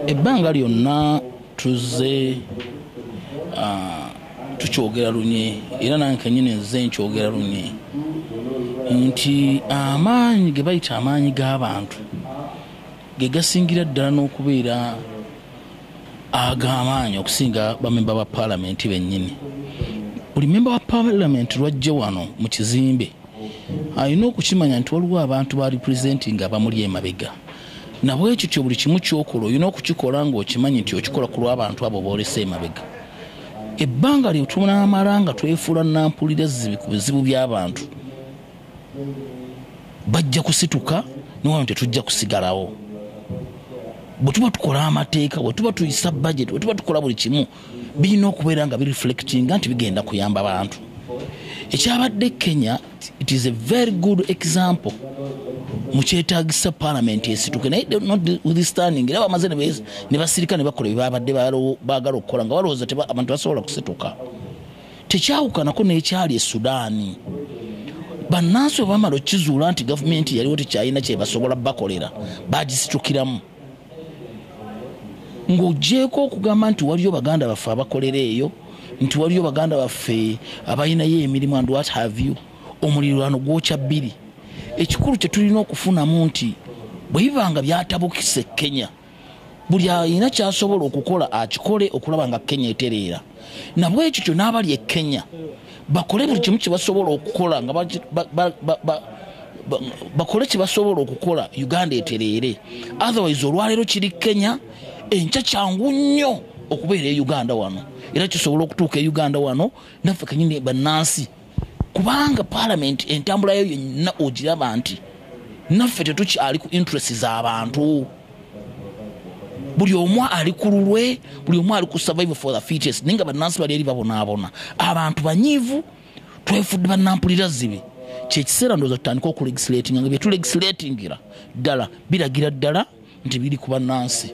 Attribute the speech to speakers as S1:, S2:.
S1: ebbanga lyonna tuzze ah, tukyogera lunye era nange kenyini nze nkyogera lunye nti amaanyi ge bayita amaanyi g'abantu ge gasingira ddala n'okubeera ag'amaanyi okusinga bamemba ba paalamenti bennyini buli memba wa paalamenti lwajje wano mu kizimbe alina okukimanya nti waliwo abantu ba representing abamuli emabega nabwekityo buli kimu kyokola olina okukikola ngaokimanyi nti okikola ku lwabantu abo boolesa emabega ebbanga lyo tunamala nga twefuula nampulira ezzibi ku bizibu by'abantu bajja kusituka niwano tetujja kusigalawo bwe tuba tukola amateeka bwe tuba tuyisa budget bwe tuba tukola buli kimu birina okubeera nga bireflectinga nti bigenda kuyamba bantu ekyabadde kenya It is a very good example mukyetagisa palamenti esituke naye notwithstanding era bamaze ne basirika ne bakola byebabadde bagala okukola nga balowooza abantu basobola kusituka tekyawukanako n'ekyali esudaani bannansi bwe bamala okukizuula nti gavumenti yaliwo tekyalina kyebasobola bakolera bagisitukiramu ng'ogyeko okugamba nti waliyo baganda baffe abakolera eyo nti waliyo baganda baffe abalinayo emirimu and what have you omulirwano gwokya bbiri ekikulu kye tulina okufunamu nti bwe biba nga byatabukisa e kenya buli alina kyasobola okukola akikole okulaba nga kenya etereera nabwekityo n'abali e kenya bakole buli kimu kyebasobola okukola nga bakole kyebasobola okukola uganda etereere otherwise olwaleero kiri kenya enkya kyangu nnyo okubeera e uganda wano era kisobola okutuuka e uganda wano naffe kanyini bannansi kubanga palamenti entambula yo yenna ogiraba nti naffe tetukyali ku interest z'abantu buli omu ali ku lulwe buli omu ali ku survival for the features naye nga bannansi bali eri babonaabona abantu banyiivu twefudde bannampulira zibi kyekiseera ndowooza tutandika okulegislatinga nga byetulegislatingira ddala biragira ddala nti biri ku bannansi